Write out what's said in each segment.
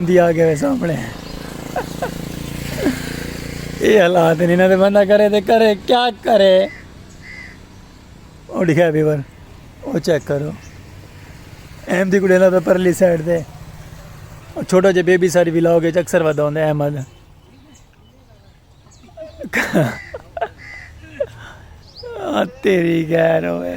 دی آ گئے سامنے اے حالات نہیں نہ بندہ کرے تے کرے کیا کرے او لکھا بھی ور او چیک کرو ایم دی کوڑے نہ پہ پرلی سائیڈ دے چھوٹا جے بیبی ساری بھی لاؤ گے اکثر ودا ہوندے احمد تیری گیر ہوئے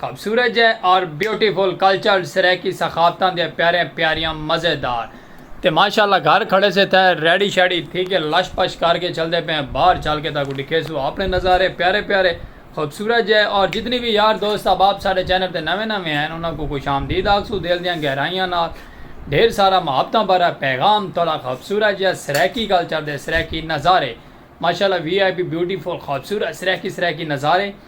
خوبصورت جئے اور بیوٹیفل کلچر سرائیکی ثقافتاں دیاں پیاریاں پیاریاں مزے دار تے ماشاء اللہ گھر کھڑے سے تھے ریڈی شیڈی تھی کے لش پش کر کے چلدے پئے ہیں باہر چل کے تاکوں ڈکھے سو اپنے نظارے پیارے پیارے خوبصورت جئے اور جتنی وی یار دوست احباب ساڈے چینل تے نویں نویں ہیں انہاں کوں خوش آمدید آکھسوں دل دیاں گہرائیاں نال ڈھیر سارا محبتاں بھرا پیغام تہاڈا خوبصورت جئے سرائیکی کلچر دے سرائیکی نظارے ماشاء اللہ وی آئی پی بیوٹیفل خوبصورت سرائیکی سرائیکی نظارے۔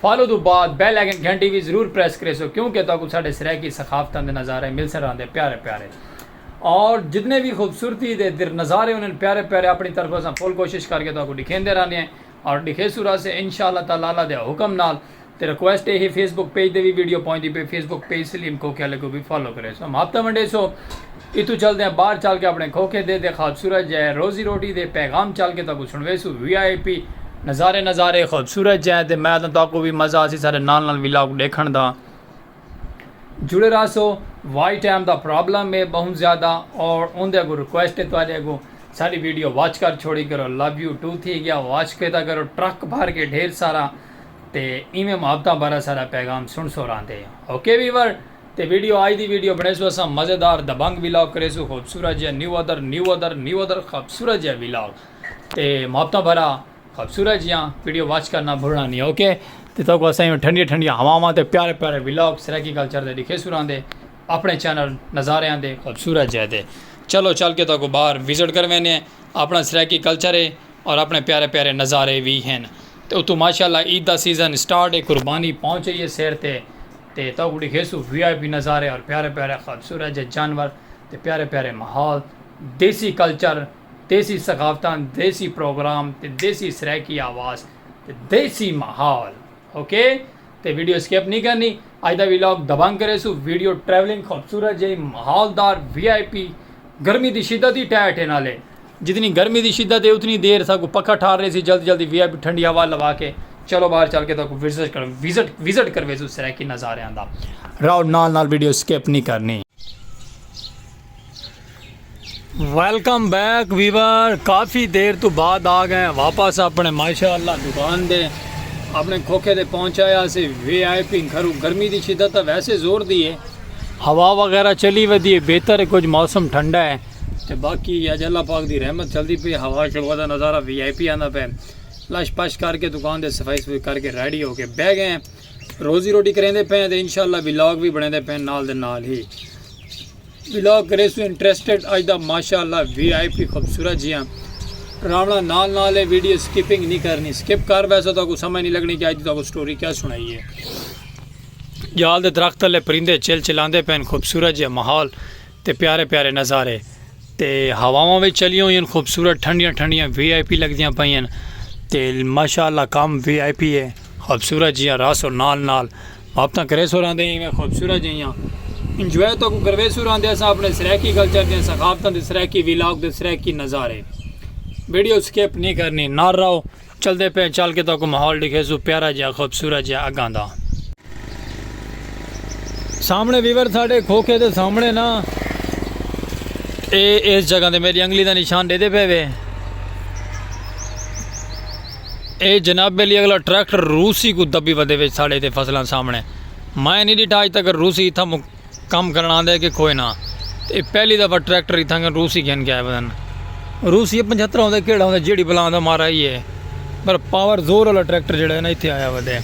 فالو توں بعد بیل آئیکن گھنٹی وی ضرور پریس کریسو کیوں کہ تہاکوں ساڈے سرائیکی ثقافتاں دے نظارے ملسن رہندے پیارے پیارے اور جتنے وی خوبصورتی دے نظارے ہوندے پیارے پیارے اپنی طرف اساں فل کوشش کر کے تہاکوں ڈکھیندے رہندے ہیں اور ڈکھیسوں رہسے انشاءاللہ تعالی اللہ دے حکم نال تے ریکویسٹ اے ہے فیس بک پیج تے وی ویڈیو پہنچدی پئی فیس بک پیج سلیم کھوکھے آلے کوں وی فالو کریسو ہم ہاپتہ ونڈیسو اتوں چلدیاں باہر چل کے اپنے کھوکھے دے دے خوبصورت جے روزی روٹی دے پیغام چل کے تہاکوں سنڑویسوں وی آئی پی نظارے نظارے خوبصورت جے تے میں تاں تہاکوں وی مزہ آسی ساڈے نال نال ولاگ ڈیکھنڑ دا جڑے رہسو وائی ٹائم دا پرابلم اے بہوں زیادہ اور اوندے اگوں ریکویسٹ اے تہاڈے اگوں ساڈی ویڈیو واچ کر چھوڑی کرو لو یو ٹو تھی گیا واچ کیتا کرو ٹرک بھر کے ڈھیر سارا تے ایویں محبتاں بھرا ساڈا پیغام سنڑسو راہندے اوکے ویور۔ تے ویڈیو آج دی ویڈیو بنڑیسو اساں مزیدار دبنگ ولاگ کریسو خوبصورت جیہا نیو ادر نیو ادر نیو ادر خوبصورت جیہا ولاگ تے محبتاں بھرا خوبصورت جیہا ویڈیو واچ کرنا بھولنا نہیں اوکے تے تو کو اساں ٹھنڈیاں ٹھنڈیاں ہواواں تے پیارے پیارے ولاگ سرائیکی کلچر دے دکھے سوراں دے اپنے چینل نظارے آن دے خوبصورت جیہے دے چلو چل کے تو کو باہر وزٹ کر وینے اپنا سرائیکی کلچر ہے اور اپنے پیارے پیارے نظارے بھی ہیں تو اتو ماشاءاللہ عید دا سیزن سٹارٹ ہے قربانی پہنچ رہی ہے سیر تے تے تہاکوں ڈکھیسوں وی آئی پی نظارے اور پیارے پیارے خوبصورت جے جانور تے پیارے پیارے ماحول دیسی کلچر دیسی ثقافتاں دیسی پروگرام تے دیسی سرائیکی آواز تے دیسی ماحول اوکے تے ویڈیو اسکپ نی کرنی اج دا ویلاگ دبنگ کریسوں ویڈیو ٹریولنگ خوبصورت جے ماحول دار وی آئی پی گرمی دی شدت ہی ٹہہ ٹھے نالے جتنی گرمی دی شدت ہے اتنی دیر ساکوں پکھا ٹھار ریسی جلدی جلدی وی آئی پی ٹھنڈی ہوا لوا کے چلو باہر چل کے تاکوں وزٹ کر وزٹ وزٹ کرویسوں سرائیکی نظاریاں دا راؤ نال نال ویڈیو سکپ نہیں کرنی ویلکم بیک ویور کافی دیر تو بعد آ گئے واپس اپنے ماشاء اللہ دکان دے اپنے کھوکھے دے پہنچایا سے وی آئی پی گھرو گرمی دی شدت ویسے زور دی ہے ہوا وغیرہ چلی ودی ہے بہتر ہے کچھ موسم ٹھنڈا ہے تے باقی اج اللہ پاک دی رحمت چلدی پئی ہوا شوا دا نظارہ وی آئی پی آندا پئے لش پش کر کے دکان دے صفائی صفائی کر کے ریڈی ہو کے بہ گئے روزی روٹی کریندے پئے تے انشاءاللہ ولاگ وی بنیندے پئے نال دے نال ہی ولاگ کرے سو انٹرسٹڈ اج دا ماشاءاللہ وی آئی پی خوبصورت جیاں راونا نال نال ہے ویڈیو سکپنگ نہیں کرنی سکپ کر ویسا تو کو سمجھ نہیں لگنی کہ اج دا کو سٹوری کیا سنائی ہے جال دے درخت لے پرندے چل چلاندے پین خوبصورت جے ماحول تے پیارے پیارے نظارے تے ہواواں وچ چلیاں ہوئیاں خوبصورت ٹھنڈیاں ٹھنڈیاں وی آئی پی لگدیاں پئیاں تے ماشاءاللہ کم وی آئی پی ہے خوبصورت جیاں راس اور نال نال واپتاں کرے سو راندے ہیں خوبصورت جیاں انجوائے تو کو کروے سو راندے ہیں اپنے سرائیکی کلچر دے ثقافتاں دے سرائیکی ویلاگ دے سرائیکی نظارے ویڈیو سکیپ نہیں کرنی نار رہو چلدے پئے چل کے تہاکوں ماحول ڈکھیسوں پیارا جیہا خوبصورت جیہا اگاں دا۔ سامنے ویور ساڈے کھوکھے دے سامنے نا اے اس جگہ تے میڈی انگلی دا نشان ڈیدے پئے وے اے جناب علی اگلا ٹریکٹر روسی کوں دبی ودے وچ ساڈے تے فصلاں سامنے مائیں نی ڈیٹھا اج تک روسی اتھاں کم کرݨ آندے کہ کوئے نہ تے اے پہلی دفعہ ٹریکٹر اتھاں کن روسی گھن کے آئے ودن روسی اے پنجھترا ہوندے کیڑا ہوندے جیڑھی بلا آندہ مارا ہی ہے پر پاور زور والا ٹریکٹر جیڑا ہے نا اتھے آیا ودے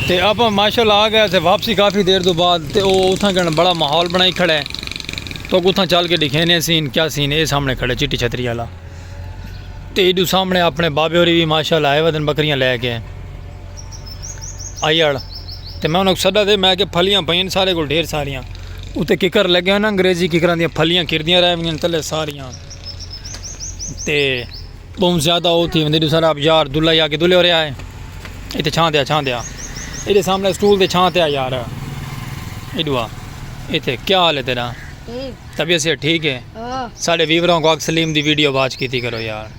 تے آپا ماشاء اللہ آ گئے تے واپسی کافی دیر دو بعد تے او اتھاں کن بڑا ماحول بنائی کھڑا ہے تو اتھاں چل کے دکھینے سین کیا سین اے سامنے کھڑے چٹی چھتری والا تے ایڈو سامنے اپنے بابے ہوری بھی ماشاء اللہ آئے ودن بکریاں لے کے۔ آیڑ تے میں انہاں کوں سدا دے میں آکھیا پھلیاں پئین سارے کول ڈھیر ساریاں اتے ککر لگے ہوئے ناں انگریزی ککراں دیاں پھلیاں کردیاں رہ ویندیاں تلے ساریاں تے بہوں زیادہ او تھی ویندی دوسرا اب یار دلہ یا کے دلہ ہو رہیا ہے ایتھے چھاں دیا چھاں دیا ایتھے سامنے سٹول تے چھاں تیا یار ایڈوا ایتھے کیا حال ہے تیرا طبیعت سے ٹھیک ہے ساڑے ویوراں کو اک سلیم دی ویڈیو واچ کیتی کرو یار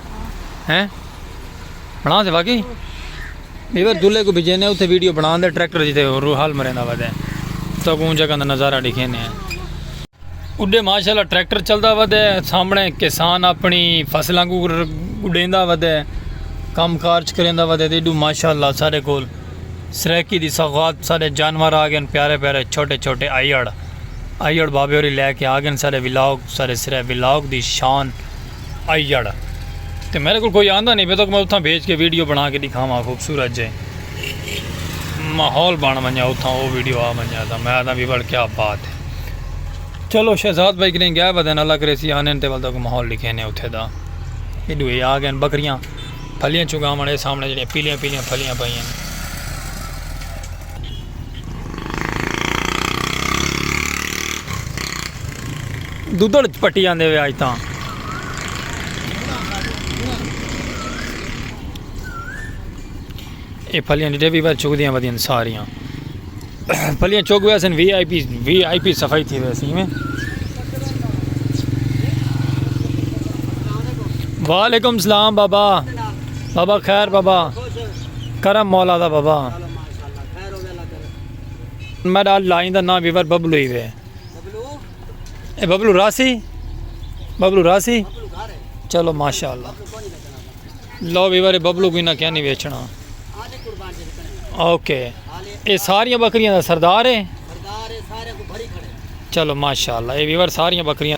ہیں بنا دے واقعی ایور دلے کو بھیجے نے اوتھے ویڈیو بنا دے ٹریکٹر جیتے رو حال مریندا ودے تو کو جگہ دا نظارہ دکھے نے اڈے ماشاءاللہ ٹریکٹر چلدا ودے سامنے کسان اپنی فصلاں کو گڈیندا ودے کم کارج کریندا ودے تے ڈو ماشاءاللہ سارے کول سرائیکی دی سوغات سارے جانور آ گئے پیارے پیارے چھوٹے چھوٹے آئیڑ آئیڑ بابے ہوری لے کے آ گئے سارے ولاگ سارے سرے ولاگ دی شان آئی جڑ تے میرے کو کوئی آندہ نہیں پہ تو میں اتھاں بھیج کے ویڈیو بنا کے دکھاواں خوبصورت جے ماحول بن ونجا اتھاں وہ ویڈیو آ ونجا تھا میں آدھا بھی بڑ کیا بات ہے چلو شہزاد بھائی کریں گیا بدن اللہ کرے سی آنے تے والدہ کو ماحول لکھے نے اتھے دا یہ دوئے آ گئے بکریاں پھلیاں چگاونے سامنے جڑے پیلیاں پیلیاں پھلیاں پائیاں دودھڑ پٹی آندے وے آج تاں اے پھلیاں ڈیڈے بھی بار چک دیاں ودیاں ساریاں پھلیاں چک وے سن V I P V I P صفائی تھی وے سی میں وعلیکم السلام بابا بابا خیر بابا کرم مولا دا بابا میڈا لائن دا نام ویور ببلو ہی وے اے ببلو راسی ببلو راسی چلو ماشاءاللہ لو ویور اے ببلو کوئی نہ کیا نہیں ویچنا اوکے اے ساریاں بکریاں دا سردار ہے چلو ماشاءاللہ اے ویور ساریاں بکریاں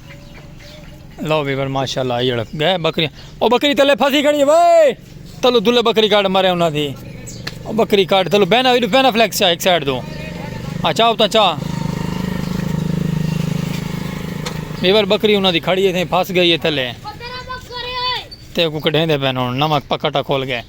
لو ویور ماشاءاللہ آئی اڑک گئے بکری او بکری تلے پھسی کھڑی وے تلو دلے بکری کاٹ مرے انہاں دی او بکری کاٹ تلو بینا ویڈو بینا فلیکس چا ایک سائیڈ دو آ چاہو تا چا ویور بکری انہاں دی کھڑی ہے پھس گئی ہے تلے تے کو کڈھیں دے پین ہن نمک پکٹا کھول گئے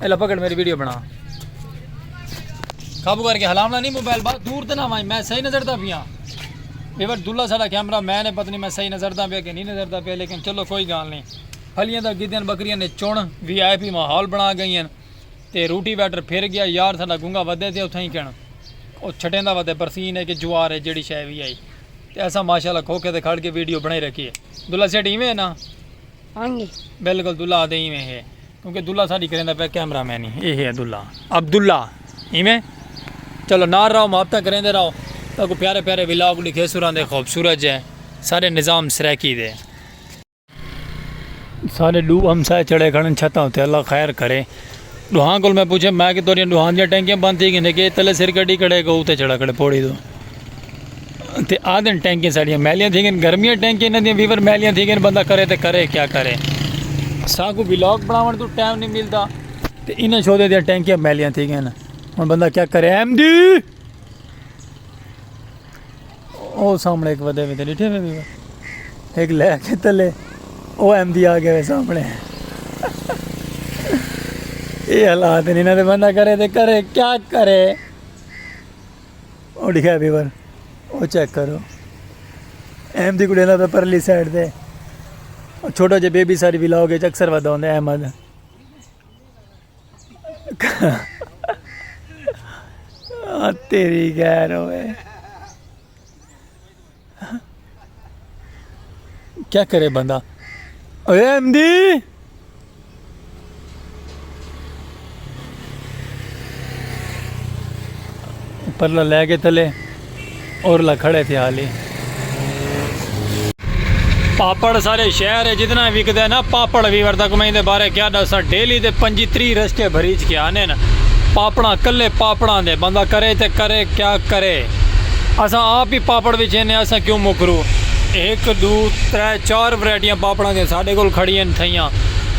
الا پکڑ میری ویڈیو بنا قابو کر کے ہلاونا نہیں موبائل بات دور تے نہ وائیں میں صحیح نظر دا پیا یہ بار دلہ سارا کیمرہ میں نے پتہ نہیں میں صحیح نظر دا پیا کہ نہیں نظر دا پیا لیکن چلو کوئی گال نہیں پھلیاں دا گدیاں بکریاں نے چون وی آئی پی ماحول بنا گئی ہیں تے روٹی ویٹر پھر گیا یار سارا گنگا ودے تے اتھا ہی کہنا او چھٹیں دا ودے برسین ہے کہ جوار ہے جیڑی شاہ وی آئی تے ایسا ماشاءاللہ کھوکے دے کھڑ کے ویڈیو بنائی رکھی ہے دلہ سیٹ ہی میں ہے نا ہاں جی۔ بالکل دلہ آدھے ہی میں ہے کیونکہ عبداللہ ساڈی کریندا پیا کیمرہ مین ہی اے ہے عبداللہ عبداللہ ایویں چلو نال رہو محبتاں کریندے رہو تاکوں پیارے پیارے ولاگ ڈکھے سراں دے خوبصورت جے ساڈے نظام سرائیکی دے۔ ساڈے ڈو ہمسائے چڑھے کھڑن چھتاں اتے اللہ خیر کرے ڈوہاں کول میں پوچھے میں کہ تہاڈیاں ڈوہاں دیاں ٹینکیاں بند تھی گیندے کہ تلے سر کڈی کھڑے کہ اتے چڑھا کھڑے پوڑی توں۔ تے آدن ٹینکیں ساڑیاں میلیاں تھی گئن گرمیاں ٹینکیں انہاں دیاں ویور میلیاں تھی گئن بندہ کرے تے کرے کیا کرے ساں کو ویلاگ بناون تو ٹائم نہیں ملدا تے انہاں شودے دیاں ٹینکیں میلیاں تھی گئن ہن بندہ کیا کرے ایم دی او سامنے ایک ودے وی تے ڈٹھے وی وی ایک لے کے تلے او ایم دی آ گئے سامنے اے حالات نہیں نہ تے بندہ کرے تے کرے کیا کرے او لکھیا پیپر او چیک کرو ایم دی کڑیاں دا پیپر لی سائیڈ تے چھوٹا جے بیبی ساری بھی لاؤ گے اکثر ودا ہوندے احمد تیری غیر ہوئے کیا کرے بندہ اے ایم دی پرلا لے کے تلے اور لکھڑے تھے حالی پاپڑ سارے شہر ہے جتنا وک دے نا پاپڑ بھی وردا کو میں دے بارے کیا دسا ڈیلی دے پنجی تری رسکے بھریج کے آنے نا پاپڑا کلے پاپڑا دے بندہ کرے تے کرے کیا کرے اساں آپ ای پاپڑ وچھیندے ہاں اساں کیوں مکرو ہک ڈو ترے چار ورائٹیاں پاپڑاں دیاں ساڈے کول کھڑی ہن تھئیاں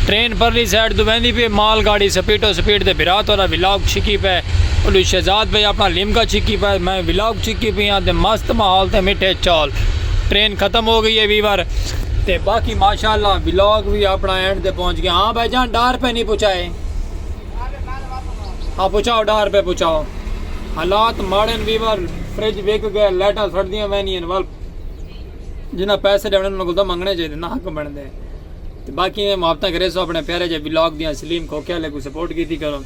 ٹرین پرلی سائیڈ توں ویندی پی اے مال گاڑی سپیٹو سپیٹ تے بھرا تہاڈا ولاگ چھکی پئے اڈو شہزاد بھائی اپنا لیمکا چھکی پئے تے میں ولاگ چھکی پیاں تے مست ماحول تے مٹھے چول ٹرین ختم ہو گئی اے ویور تے باقی ماشاءاللہ ولاگ وی اپنا اینڈ تے پہنچ گیا ہاں بھائی جان ڈار پے نی پچائے۔ ہاں پچاؤ ڈاہ روپے پچاؤ حالات ماڑن ویور فریج وک گئے لائٹاں سڑدیاں وینیاں ول جنہ پیسے ڈے انہاں کو تو منگنے چاہیے نہ حق بن دے تے باقی میں محبتاں کرے سو اپنے پیارے جے بلاگ دیاں سلیم کھوکے والے کو سپورٹ کیتی کرو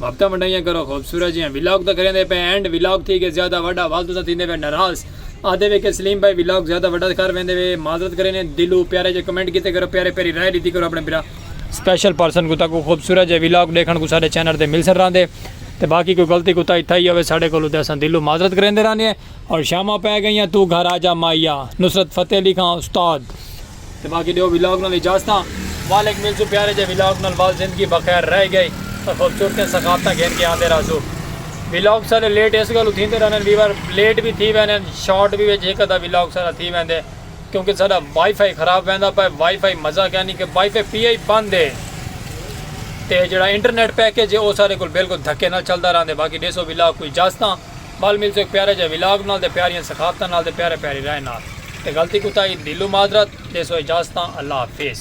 محبتہ منڈائیاں کرو خوبصورت جیاں بلاگ تو کریں دے پہ اینڈ بلاگ تھی کہ زیادہ وڈا والدو تو تھیندے پہ ناراض آدھے وے کہ سلیم بھائی بلاگ زیادہ وڈا کر ویندے وے معذرت کریں دلو پیارے جے کمنٹ کیتے کرو پیارے پیاری رائے لیتی کرو اپنے برا سپیشل پرسن کو تاکو خوبصورت جے ویلاگ ڈیکھن کو ساڈے چینل تے مل سن راندے تے باقی کوئی غلطی کوتاہی تھئی ہوے ساڈے کولو تے اساں دلوں معذرت کریندے رانے ہیں اور شاماں پے گئیاں تو گھر آجا مائیا نصرت فتح علی خاں استاد تے باقی ڈیو ویلاگ نال اجازتاں والک ملسوں پیارے جے ویلاگ نال وال زندگی بخیر رہ گئی تے خوبصورتیں ثقافتاں گھن کے آندے رہسو ویلاگ سارے لیٹ اس گلوں تھیندے رہنے ویور لیٹ بھی تھی وینے شارٹ بھی وچ ہک ادا ویلاگ سارا تھی ویندے کیونکہ ساڈا وائی فائی خراب ویندا پئے وائی فائی مزہ کیا نی کہ وائی فائی پی ای بند ہے تے جیڑا انٹرنیٹ پیکج ہے او ساڈے کول بالکل دھکے نال چلدا راہندے باقی ڈیسو ولاگ کوئی جاستاں ول ملسوں ہک پیارے جے ولاگ نال تے پیاریاں ثقافتاں نال تے پیارے پیاری رائے نال تے غلطی کوتاہی دیلوں معذرت ڈیسو اجازتاں اللہ حافظ۔